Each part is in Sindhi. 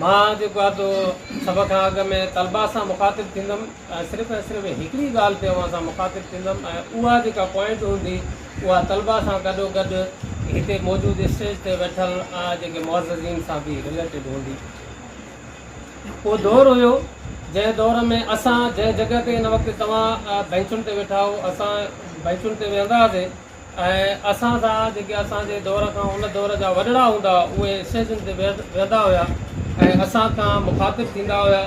مان جيڪو آهي سو سڀ کان اڳ ۾ طلبا سان مخاطب ٿيندم ۽ صرف ۽ صرف هڪڙي ڳالهه تي اوهان سان مخاطب ٿيندم ۽ اها جيڪا پوائنٽ هوندي اها طلبا سان گڏو گڏ هتي موجود اسٽيج تي ويٺل جيڪي معززين سان به رليٽيڊ هوندي. ڪو دور هيو جنهن دور ۾ اسان جنهن جڳهه تي هن وقت توهان بئنچن تي ويٺا هئو اسان بئنچن تي ويهندا هئاسي ۽ اسان سان جيڪي اسان جي دور کان ان دور جا وڏڙا هوندا هئا اهي اسٽيجن تي ويهندا هيا ۽ اسان کان مخاطب ٿيندا هيا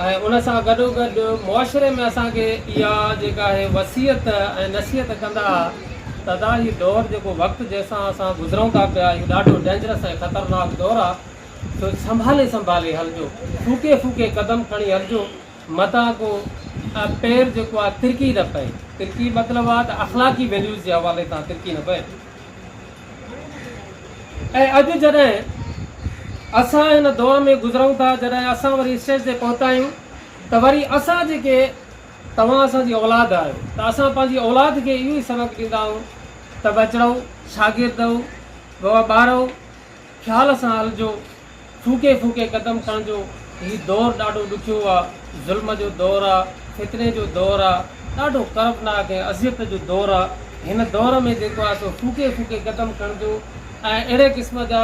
۽ ان سان گڏو گڏ معاشري ۾ اسان کي اها جيڪا اهي وصيت ۽ نصيحت ڪندا هئا ته ادا هي دور جيڪو وقت جنهن سان اسان گذرون ٿا پيا اهو ڏاڍو ڊينجرس ۽ خطرناڪ دور آهي سو سنڀالي سنڀالي هلجو ڦوڪي ڦوڪي قدم کڻي هلجو متان ڪو پير جيڪو آ ترڪي نه پئي ترڪي مطلب آ ته اخلاقي ويليوز جي حوالي تان ترڪي نه پئي ۽ اڄ جڏهن اسان ان دور ۾ گذرون ٿا جڏهن اسان وري اسٽيج تي پهتا آهيون ته وري اسان جيڪي توهان اسان جي اولاد آهيو ته اسان پنهنجي اولاد کي اهو ئي سبق ڏيندا آهيون ته بچڙو شاگرد ٻارو خيال سان هلجو، ڦوڪي ڦوڪي قدم کڻجو، هي دور ڏاڍو ڏکيو آ، ظلم جو دور آ، فتني جو دور آ، ڏاڍو ڪربناڪ ۽ اذيت جو دور آ، هن دور ۾ جيڪو آ سو ڦوڪي ڦوڪي قدم کڻجو ۽ اهڙي قسم جا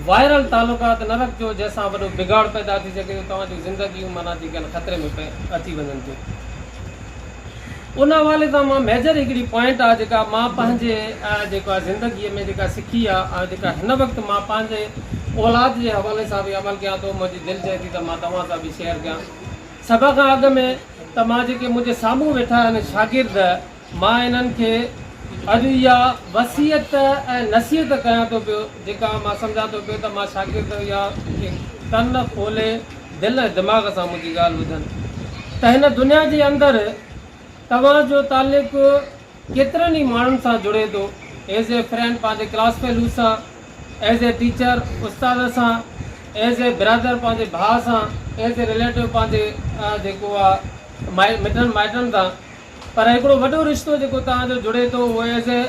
وائرل تعلقات نه رکجو جنهن سان وڏو بگاڙ پيدا ٿي سگهي ٿو، توهان جون زندگيون معنيٰ جيڪي آهن خطري ۾ اچي وڃن ٿيون. ان حوالي سان مان ميجر هڪڙي پوائنٽ آ جيڪا مان پنهنجي جيڪو آ زندگي ۾ جيڪا سکي آ ۽ جيڪا هن وقت مان پنهنجي اولاد جي حوالي سان به عمل ڪيان ٿو منهنجي دل چئي ٿي ته مان توهان سان به شيئر ڪيان سڀ کان اڳ ۾ ته مان جيڪي منهنجي سامهون ويٺا آهن شاگرد مان انهن کي اڄ اها وصيت ۽ نصيحت ڪيان ٿو پيو جيڪا مان سمجهان ٿو پيو ته مان شاگرد اها ڪن کولي دل ۽ دماغ سان منهنجي ڳالهه ٻڌن ته هن دنيا جي اندر توهان جو تعلق ڪيترن ئي ماڻهن سان جڙي ٿو ايز اي فرينڊ پنهنجي ڪلاس فيلوز سان ايز اي ٽيچر استاد سان ايز اي برادر پنهنجي ڀاء سان ايز اي ريليٽو پنهنجي جيڪو آهي مٽن مائٽن سان پر هڪڙو وڏو رشتو جيڪو توهان جو جڙي ٿو اهو ايز اي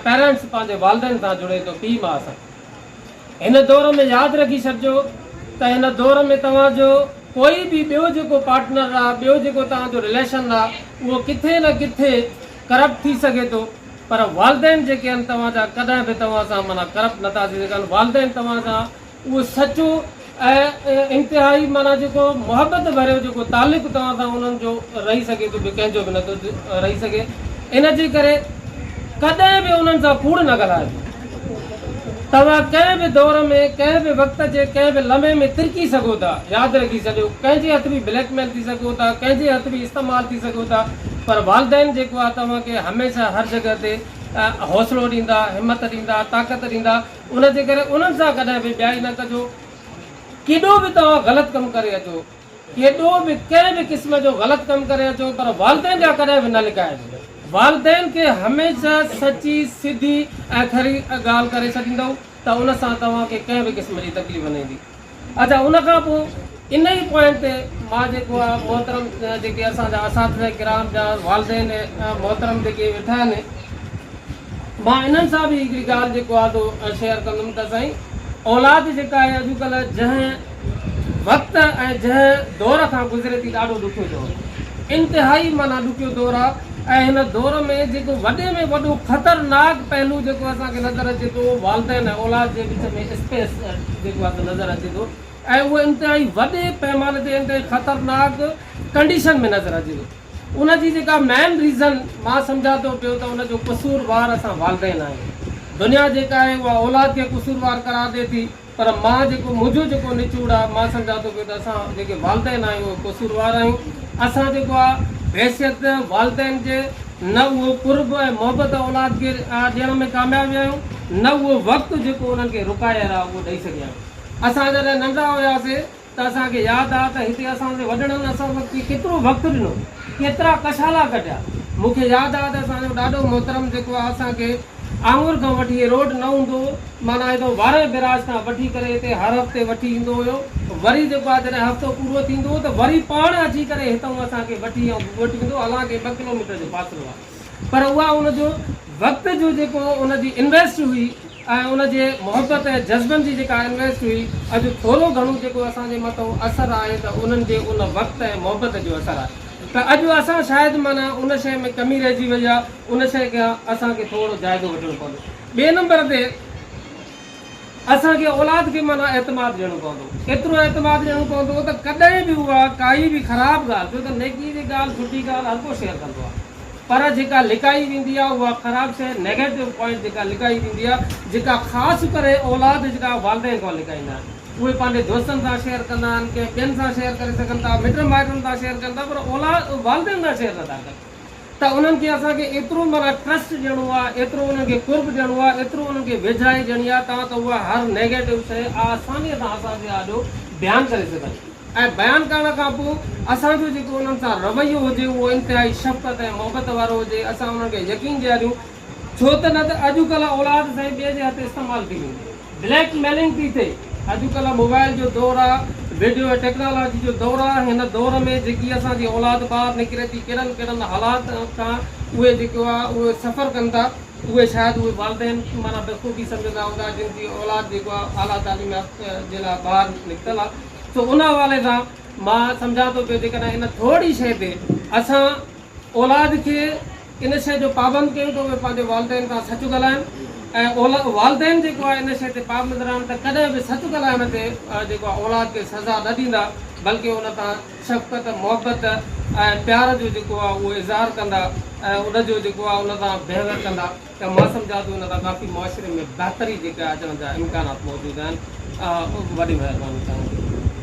پيرنٽس پنهنجي والدين سان جڙي ٿو پيء ماء سان هن دور ۾ ياد رکي ڇڏجو ته هن دور ۾ توهان جو ڪوئي به ٻيو جيڪو پارٽنر آ، ٻيو جيڪو توهان جو رليشن آ، اهو ڪٿي نه ڪٿي ڪرپٽ ٿي سگهي ٿو، پر والدين جيڪي آهن توهان جا ڪڏهن به توهان سان معنيٰ ڪرپٽ نه ٿا ٿي سگهن، والدين توهان سان اهو سچو. ۽ انتهائي معنيٰ جيڪو محبت ڀريو جيڪو تعلق توهان سان انهن جو رهي سگهي ٿو ٻيو ڪنهن جو به نه ٿو رهي سگهي ان جي ڪري ڪڏهن به انهن سان ڪوڙ نه ڳالهائبو توهان ڪنهن به دور ۾ ڪنهن به وقت جي ڪنهن به لمحي ۾ ترڪي سگهو ٿا ياد رکي ڇڏيو ڪنهن جي هٿ به بليڪ ميل ٿي سگهو ٿا ڪنهن جي هٿ به استعمال ٿي سگهو ٿا پر والدين جيڪو آهي توهان کي هميشه هر جڳهه تي حوصلو ڏيندا همت ڏيندا طاقت ڏيندا ان جي ڪري انهن سان ڪڏهن به ٻيائي نه ڪجو. ڪيڏو به توهان غلط ڪم ڪري اچو، ڪيڏو به ڪنهن به قسم جو غلط ڪم ڪري اچو پر والدين جا ڪڏهن به نه لڪائجو. والدين کي هميشه سچي، سڌي ۽ کري ڳالهه ڪري ڇڏيندؤ ته ان سان توهان کي ڪنهن به قسم جي تڪليف نه ايندي. اچا ان کان پوء ان ئي پوائنٽ تي مان جيڪو آ محترم جيڪي اسان جا اساتذه ڪرام جا والدين محترم جيڪي ويٺا آهن مان انهن سان به هڪڙي ڳالهه جيڪو آ سو شيئر ڪندم ته سائين اولاد جيڪا آهي اڄڪلهه جنهن وقت ۽ جنهن دور کان گذري ٿي ڏاڍو ڏکيو دور انتهائي معنيٰ ڏکيو دور آ ۽ هن دور ۾ جيڪو وڏي ۾ وڏو خطرناڪ پهلو جيڪو اسان کي نظر اچي ٿو اهو والدين ۽ اولاد جي وچ ۾ اسپيس جيڪو آهي سو نظر اچي ٿو ۽ اهو انتهائي وڏي پيماني تي انتهائي خطرناڪ ڪنڊيشن ۾ نظر اچي ٿو ان جي جيڪا مين ريزن مان سمجهان ٿو پيو ته ان جو قصور وار اسان والدين آهيون دنيا جيڪا آهي اها اولاد کي قصور وار قرار ڏي ٿي پر مان جيڪو منهنجو جيڪو نچوڙ آهي مان سمجهان ٿو پيو ته اسان جيڪي والدين آهيون اهي قصور وار آهيون اسان جيڪو آهي بحيثيت والدين جي نه اهو قرب ۽ محبت اولاد کي ڏيڻ ۾ ڪامياب ويا آهيون، نه اهو وقت جيڪو انهن کي رڪائي رهيو آهي اهو ڏئي سگهيا آهيون. اسان جڏهن ننڍڙا هياسين ته اسان کي ياد آهي ته هتي اسان جي وڏڙن اسان سان ڪيترو وقت ڏنو، ڪيترا ڪشالا ڪڍيا. مون کي ياد آهي ته اسان جو ڏاڏو محترم جيڪو آهي اسان کي آڱر کان وٺي هي روڊ نه هوندو هو معنيٰ هيڏو وارهه بئراج کان وٺي ڪري هتي هر هفتي وٺي ايندو هيو وري جيڪو آهي جڏهن هفتو پورو ٿيندو هو ته وري پاڻ اچي ڪري هتئون اسان کي وٺي ۽ گگهوٽ ويندو هو حالانڪه ٻه ڪلوميٽر جو فاصلو آهي پر اها ان جو وقت جو جيڪو ان جي انويسٽ هئي ۽ ان جي محبت ۽ جذبن جي جيڪا انويسٽ هئي اڄ ٿورو گهڻو جيڪو اسان جي مٿئون اثر آهي ته انهن جي ان وقت ۽ محبت جو اثر آهي ته اڄ اسان شايد معنيٰ ان شيء ۾ ڪمي رهجي وئي آهي ان شيء کي اسان کي ٿورڙو جائزو وٺڻو پوندو. ٻئي نمبر تي اسان کي اولاد کي معنيٰ اعتماد ڏيڻو پوندو. ايترو اعتماد ڏيڻو پوندو ته ڪڏهن به اها ڪائي به خراب ڳالهه، ڇو ته نيڪي جي ڳالهه، سٺي ڳالهه هر ڪو شيئر ڪندو آهي. پر جيڪا لڪائي ويندي آهي اها خراب شيء، نيگيٽو پوائنٽ جيڪا لڪائي ويندي آهي، جيڪا خاص ڪري اولاد جيڪا والدين کان لڪائيندا آهن. اهي پنهنجي دوستن سان شيئر ڪندا آهن، ڪنهن ٻين سان شيئر ڪري سگهن ٿا، مٽن مائٽن سان شيئر ڪن ٿا پر اولاد، والدين سان شيئر نٿا ڪن. ته انهن کي اسان کي ايترو معنيٰ ٽرسٽ ڏيڻو آهي، ايترو انهن کي قرب ڏيڻو آهي، ايترو انهن کي ويجهائي ڏيڻي آهي تان ته اها هر نيگيٽو شيء آسانيء سان اسان جي آڏو بيان ڪري سگهن ۽ بيان ڪرڻ کان پوء اسان جو جيڪو انهن سان رويو هجي اهو انتهائي شفقت ۽ محبت وارو هجي، اسان انهن کي يقين ڏياريون ڇو ته نه ته اڄ ڪلهه اولاد سائين ٻئي جي هٿ استعمال ٿي وئي بليڪ ميلنگ ٿي ٿئي اڄ ڪلهه موبائل جو دور آ ويڊيو ۽ ٽيڪنالاجي جو دور آ هن دور ۾ جيڪي اسان جي اولاد ٻاهر نڪري ٿي ڪهڙن ڪهڙن حالات تان اهي جيڪو آ اهي سفر ڪن ٿا اهي شايد اهي والدين معنيٰ بخوبي سمجهندا هوندا جن جي اولاد جيڪو آ اعليٰ تعليم يافته جي لاء ٻاهر نڪتل آ سو ان حوالي سان مان سمجهان ٿو پيو جيڪڏهن ان ٿورڙي شئي تي اسان اولاد کي ان شيء جو پابند ڪيون ته اهي پنهنجي والدين کان سچ ڳالهائن ۽ اولاد والدين جيڪو آهي ان شيء تي پابند رهن ته ڪڏهن به سچ ڳالهائڻ تي جيڪو آهي اولاد کي سزا نه ڏيندا بلڪه ان تان شفقت محبت ۽ پيار جو جيڪو آهي اهو اظهار ڪندا ۽ ان جو جيڪو آهي ان تان بيهويئر ڪندا ته مان سمجهان ٿو ان تان ڪافي معاشري ۾ بهتري جيڪا اچڻ جا امڪانات موجود آهن وڏي مهرباني چاهيان ٿو.